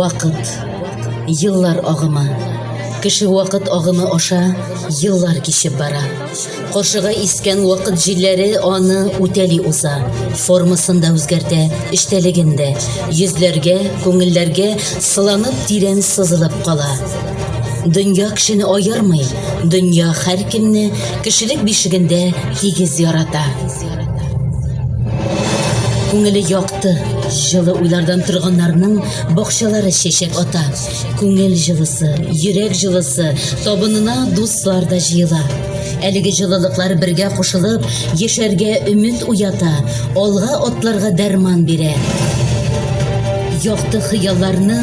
Вакыт. Еллар агымы. Кеше вакыт агымы аша еллар кичеп бара. Каршыга искән вакыт җилләре аны үтәли уза. Формасын да үзгәртә, эчтәлеген дә. Йөзләргә, күңелләргә сыланып тирән сызылып кала. Дөнья кешене аермый, дөнья һәркемне кешелек бишегендә тигез ярата. Күңеле якты, җылы уйлардан торганнарның бакчалары чәчәк ата. Күңел җылысы, йөрәк җылысы, табынына дуслар да җыела. Әлеге җылылыклар бергә кушылып, яшәргә өмет уята, алга атларга дәрман бирә. Якты хыялларны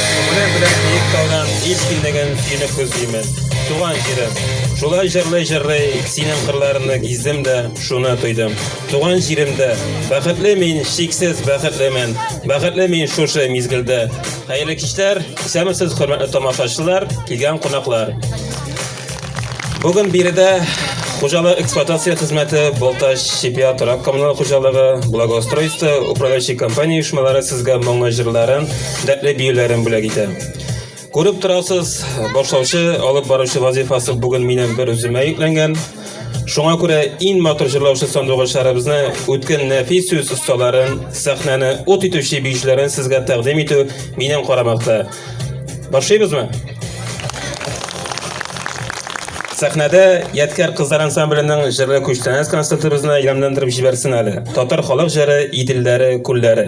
Күңелем белән биек таудан һич килмәгән сине күзлимен, туган җирем. Шулай җырлый-җырлый синең кырларыңны гиздем дә, шуны тойдым. Туган җиремдә! Бәхетле мин, чиксез бәхетлемен! Бәхетле мин шушы мизгелдә! Хәерле кичләр! Исәнмесез, хөрмәтле тамашачылар, килгән кунаклар! Бүген биредә Хуҗалык эксплуатация хезмәте Балтач Сибия торак коммуналь хуҗалыгы, благоустройство, управляющий компания оешмалары сезгә моңлы җырларын, дәртле биюләрен бүләк итә. Күреп торасыз, башлаучы, алып баручы вазифасы бүген минем бер үземә йөкләнгән. Шуңа күрә иң матур җырлаучы сандугачларыбызны, үткен нәфис сүз осталарын, сәхнәне ут итүче биючеләрен сезгә тәкъдим итү минем карамакта. Башлыйбызмы? Сәхнәдә Ядкәр кызлар ансамбленең җырлы күчтәнәс концертыбызны илһамландырып җибәрсен әле. Татар халык җыры Иделләре, күлләре.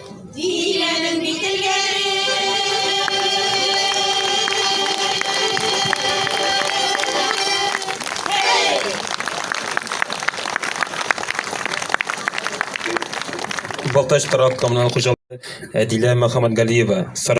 Диләнең бит элгәре. Балтач торак коммуналь хуҗалыгы Әдилә Мөхәммәтгалиева. Сара-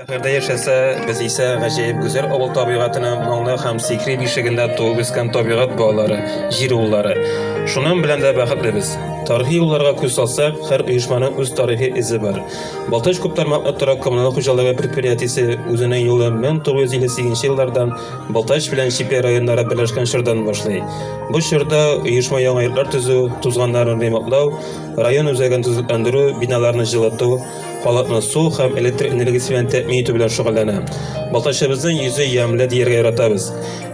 Шәһәрдә яшәсә, без исә гаҗәеп гүзәл авыл табигатенә моңлы һәм сихри бишегендә туып үскән табигать балалары, җир уллары. Шуның белән дә бәхетлебез. Тарихи юлларга күз салсак, һәр оешманың үз тарихи эзе бар. Балтач күптармаклы торак-коммуналь хуҗалыгы предприятиесе үзенең юлын 1958 нче еллардан Балтач белән Чепья районнары берләшкән чордан башлый. Бу чорда оешма яңа йортлар төзү, тузганнарын ремонтлау, район үзәген төзекләндерү, биналарны җылыту, Халыкны су һәм электр энергиясе белән тәэмин итү белән шөгыльләнә. Балтачыбызның йөзе ямьле дияргә яратабыз.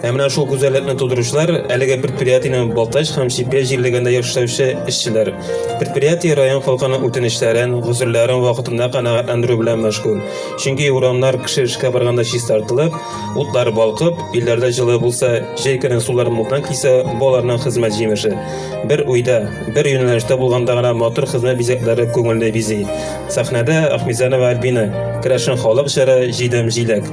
Ә менә шул гүзәллекне тудыручылар әлеге предприятиенең Балтач һәм Чепья җирлегендә яшәүче эшчеләр. Предприятие район халкының үтенечләрен, гозерләрен вакытында канәгатьләндерү белән мәшгуль. Чөнки урамнар кеше эшкә барганда чистартылып, Утлар балкып, өйләрдә җылы булса, җәй көнен сулар мулдан кисә, балаларның хезмәт җимеше. Бер уйда, бер юнәлештә булганда гына матур хезмәт бизәкләре күңелне бизи. Сәхнәдә Ахмизанова Альбина, керәшен халык җыры Җидем җиләк.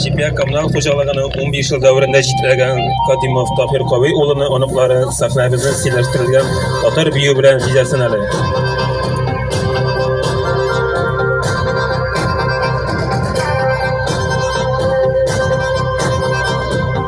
Чепья коммуналь хуҗалыгының 15 ел дәверендә җитәләгән Кадимов Таһир Кавый улыны оныклары сәхнәбезне стильләштерелгән татар бию белән җизәсен әле.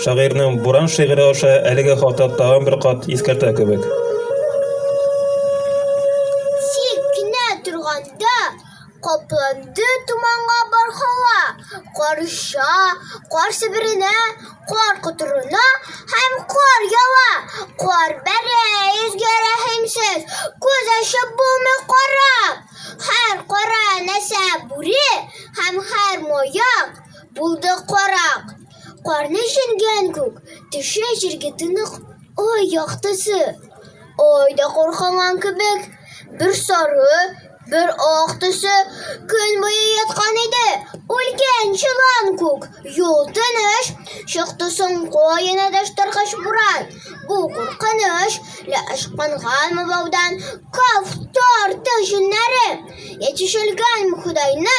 Шагыйрьнең Буран шигыре аша әлеге хата тагын бер кат искәртә кебек. Тик кенә торганда капланды туманга бар һава, кар оча, кар себеренә, кар котырына һәм кар ява, кар бәрә, йөзгә рәхимсез, күз ачып булмый карап. Һәр кара нәрсә бүре һәм һәр маяк булды карак. Карны җиргән күк, төшә җиргә тынык ай яктысы. Ай да куркынган кебек, бер сары, бер ак төсе көн буе яткан иде. Үлгән чылан күк, юл тыныч, чыкты соң каена дәштаргач буран. Бу куркыныч, лә ышкынганмы баудан, каф тартык җеннәре, ятишелгәнме Худайны,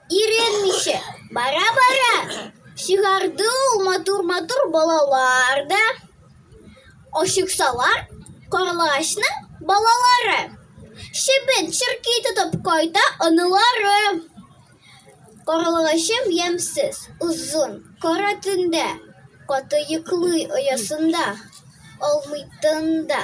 Өйрәнмичә, бара-бара чыгарды ул матур-матур балалар да. Ашыксалар, карлыгачның балалары. Чебен черки тотып кайта анылары. Карлыгачым ямсыз, озын, кара төндә, каты йоклый оясында, алмый тында.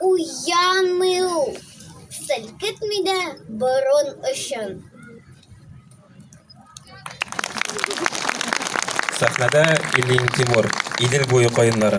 Уянмый ул, селкетми дә борын очын. Сәхнәдә Ильин Тимур, Идел буе каеннары.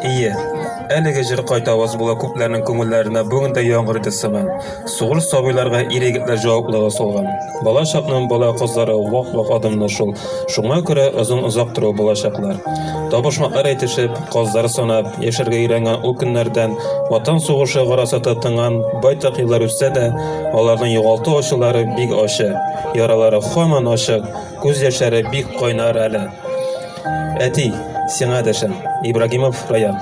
Ие, әлеге җыр кайта аваз була күпләрнең күңелләренә бүген дә яңгыр иде сыман. Сугыш сабыйларга ир-егетләр җаваплылыгы салган. Бала чакның бала кызлары вак-вак адымлы шул, шуңа күрә озын-озак тору булачаклар. Табышмаклар әйтешеп, казлар санап, яшәргә өйрәнгән ул көннәрдән Ватан сугышы гарасаты тынган байтак еллар үтсә дә, аларның югалту ачылары бик ачы, яралары һаман ачык, күз яшьләре бик кайнар әле. Әти, сиңа дәшәм. Ибрагимов Раян.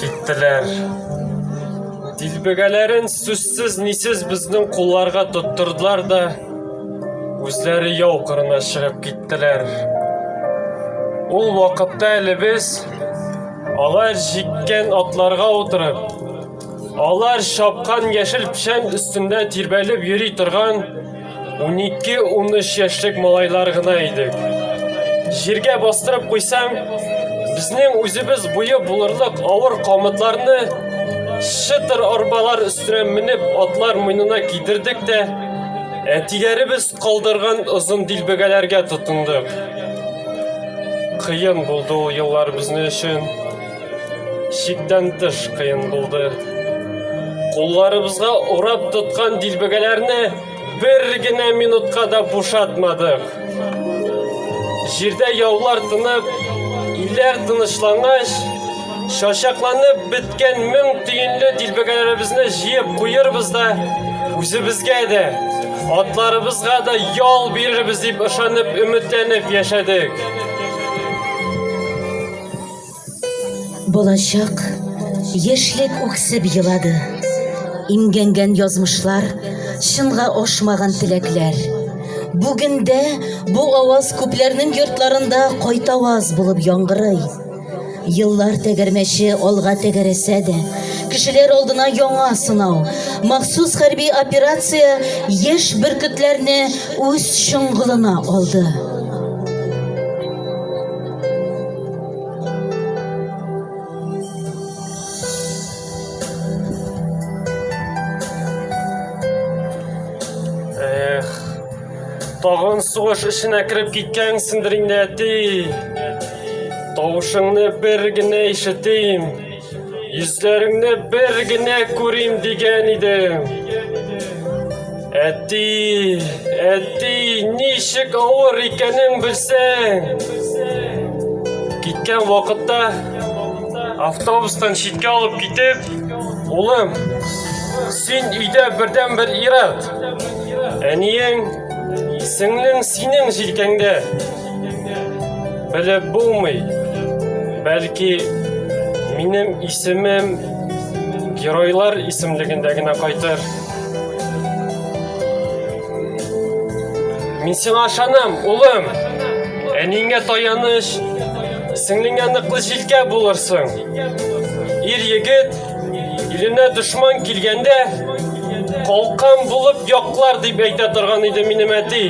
Киттеләр. Дилбегәләрен сүзсез нисез безнең кулларга тоттырдылар да үзләре яу кырына чыгып киттеләр. Ул вакытта әле без алар җиккән атларга утырып Алар шапкан яшел печән өстендә тирбәлеп йөри торган 12-13 яшьлек малайлар гына идек. Җиргә бастырып куйсам, безнең үзебез буе булырлык авыр камытларны шытыр арбалар өстенә менеп атлар муенына кидердек тә, әтиләребез калдырган озын дилбегәләргә тотындык. Кыен булды ул еллар безнең өчен. Чиктән тыш кыен булды. Кулларыбызга урап тоткан дилбегәләрне бер генә минутка да бушатмадык. Җирдә яулар тынып, иләр тынычлангач, шашакланып беткән мең тиенле дилбегәләребезне җыеп куербыз да, үзебезгә дә, атларыбызга да ял бирербез дип ышанып, өметләнеп яшәдек. Балачак, яшьлек үксеп елады. Имгәнгән язмышлар, чынга ашмаган теләкләр. Бүгендә бу аваз күпләрнең йортларында кайтаваз булып яңгырый. Еллар тәгәрмәче алга тәгәрәсә дә, кешеләр алдына яңа сынау, махсус хәрби операция яшь бөркетләрне үз чоңгылына алды. Тагын сугыш эшенә кереп киткәнсеңдер инде, әти. Тавышыңны бер генә ишетим. Йөзләреңне бер генә күрим дигән идем. Әти, әти, ничек авыр икәнен белсәң. Киткән вакытта автобустан читкә алып китеп, улым, син өйдә бердән бер ират. Әниең, сеңлең синең җилкәңдә. Белеп булмый, бәлки минем исемем геройлар исемлегендә генә кайтыр. Мин сиңа ышанам, улым. Әниңә таяныч, сеңлеңә ныклы җилкә булырсың. Ир егет иленә дошман килгәндә калкан булып яклар дип әйтә торган иде минем әти.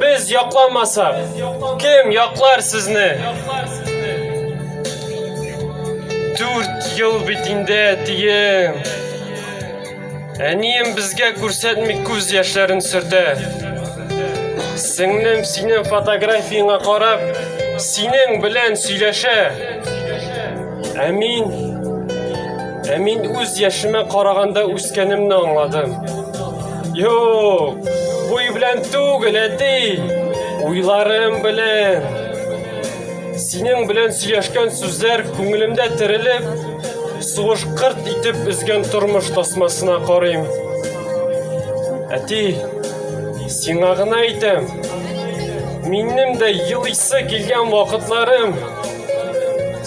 Без якламасак, кем яклар сезне? Дүрт ел бит инде әтием. Әнием безгә күрсәтми күз яшьләрен сөртә. Сеңлем синең фотографияңа карап, синең белән сөйләшә. Ә мин Ә мин үз яшемә караганда үскәнемне аңладым. Юк, буй белән түгел, әти, уйларым белән. Синең белән сөйләшкән сүзләр күңелемдә терелеп, сугыш кырт итеп өзгән тормыш тасмасына карыйм. Әти, сиңа гына әйтәм. Минем дә елыйсы килгән вакытларым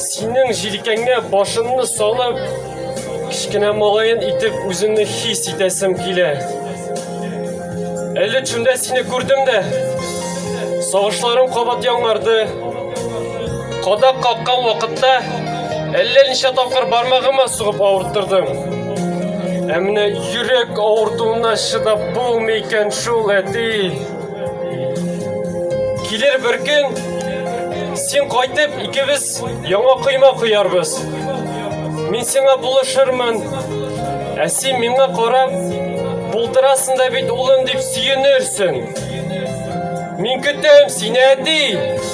Синең җилкәңә башымны салып, кечкенә малаен итеп үземне хис итәсем килә. Әле төшемдә сине күрдем дә, сагышларым кабат яңарды. Кадак каккан вакытта әллә ничә тапкыр бармагыма сугып авырттырдым. Ә менә йөрәк авыртуына чыдап булмый икән шул, әти. Килер бер көн, син кайтып, икебез яңа койма куярбыз. Мин сиңа булышырмын, ә син миңа карап, булдырасың да бит улым дип сөенерсең. Мин көтәм сине, әти!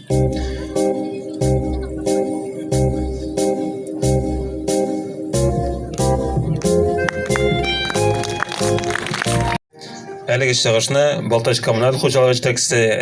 Әлеге чыгышны Балтач коммуналь хуҗалыгы җитәкчесе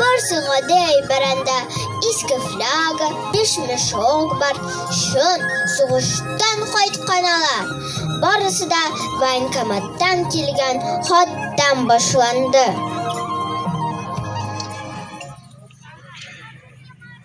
Барсы гадәй бәрәндә иске фляга, биш мешок бар. Чын сугыштан кайткан алар. Барысы да военкоматтан килгән хаттан башланды.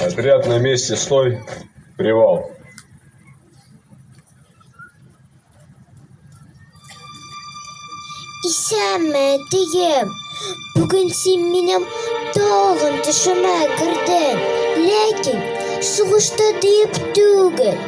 Отряд на месте, стой, привал. Исәнме, дием. Бүген син минем тагын төшемә кердең. Ләкин сугышта диеп түгел.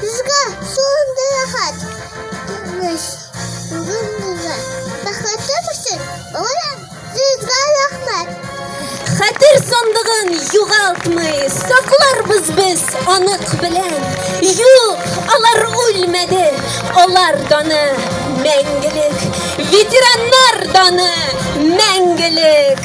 Безгә шундый рәхәт, тыныч, бүген безгә. Бәхетем өчен бүген сезгә рәхмәт. Хәтер сандыгын югалтмый, сакларбыз без анык белән. Юк, алар үлмәде, алар даны мәңгелек. Ветераннар даны мәңгелек.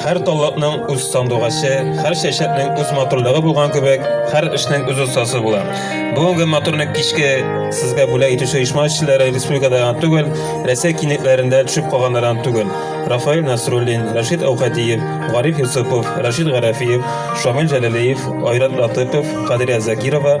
Хәр таллакның үз сандугачы, хәр чәчәкнең үз матурлыгы булган кебек, хәр эшнең үз остасы була. Бүгенге матурны кичке сезгә бүләк итүче оешма эшчеләре республикада гына түгел, Рәсәй кинетләрендә төшеп калганнардан түгел. Рафаил Насруллин, Рашид Әүхәдиев, Гариф Юсупов, Рашид Гарәфиев, Шамил Җәләлиев, Айрат Латыпов, Кадрия Закирова,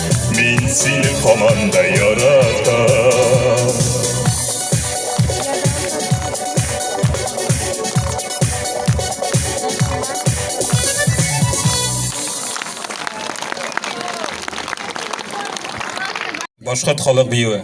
Мин сине һаман да яратам Башкорт халык биюе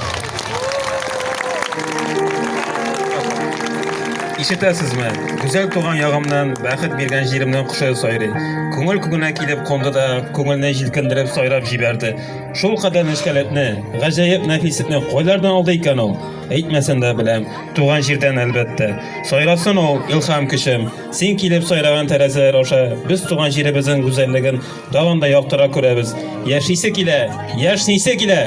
Ишетәсезме? Гүзәл туган ягымнан, бәхет биргән җиремнән кошы сайрый. Күңел күңенә килеп кунды да, күңелне җилкендереп сайрап җибәрде. Шул кадәр нечкәлекне, гаҗәеп нәфислекне кайлардан алды икән ул? Әйтмәсен дә беләм, туган җирдән әлбәттә. Сайрасын ул, илһам көчем. Син килеп сайраган тәрәзәләр аша без туган җиребезнең гүзәллеген Тагын да яктырак күрәбез. Яшисе килә, яшнисе килә.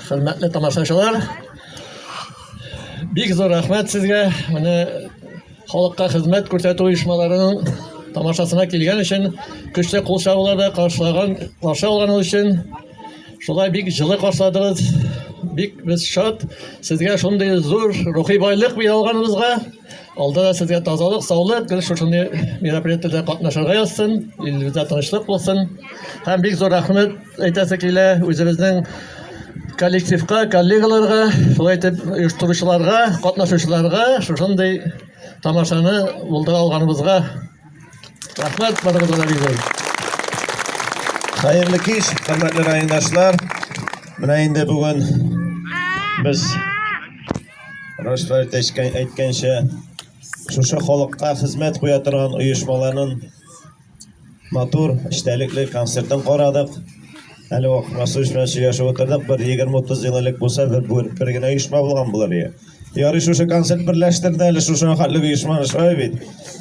Хөрмәтле тамашачылар, бик зур рәхмәт сезгә. Менә Халыкка хезмәт күрсәтү оешмаларының тамашасына килгән өчен көчле кул чабуларда каршылаган каршы алганыгыз өчен шулай бик җылы каршыладыгыз. Бик без шат. Сезгә шундый зур рухи байлык бирә алганыбызга. Алда да сезгә тазалык, саулык, гел шушындый мероприятиеләрдә катнашырга язсын, илебездә тынычлык булсын. Һәм бик зур рәхмәт Әйтәсе килә үзебезнең коллективка, коллегаларга, шулай итеп оештыручыларга, катнашучыларга шушындый тамашаны булдыра алганыбызга рәхмәт барыгызга да бик зур. Хәерле кич, хөрмәтле райондашлар. Менә инде бүген без Рашфәт әйткәнчә шушы халыкка хезмәт куя торган оешмаларның Матур, эчтәлекле концертын карадык. Әле вак Расулович белән сөйләшеп утырдык. Бер 20-30 ел элек булса, бер, бер, бер генә оешма булган булыр иде. Ярый шушы концерт берләштерде әле шушы хәтле оешма шулай бит.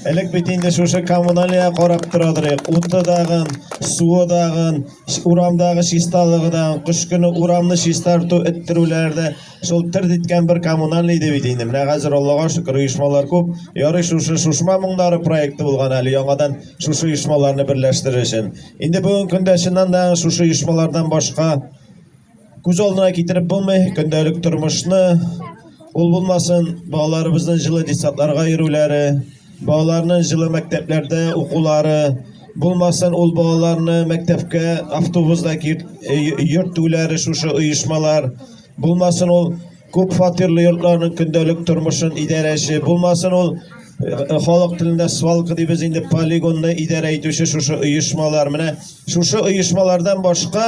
Элек бит инде шушы коммуналия карап тора торыйк. Уты дагын, суы дагын, урамдагы чисталыгы дагын, кыш көне урамны чистарту, эттерүләр дә Шул тырт иткән бер коммунальный иде бит инде. Менә хәзер Аллага шөкер оешмалар күп. Ярый шушы шушма моңнары проекты булган әле яңадан шушы оешмаларны берләштерер өчен. Инде бүгенге көндә чыннан да шушы оешмалардан башка күз алдына китереп булмый көндәлек тормышны ул булмасын балаларыбызның җылы десантларга йөрүләре Балаларның җылы мәктәпләрдә укулары булмасын, ул балаларны мәктәпкә автобуста йөртүләре шушы оешмалар булмасын, ул күп фатирлы йортларның көндәлек тормышын идарәче булмасын, ул э, халык телендә свалка дибез инде полигонны идарә итүче шушы оешмалар. Менә шушы оешмалардан башка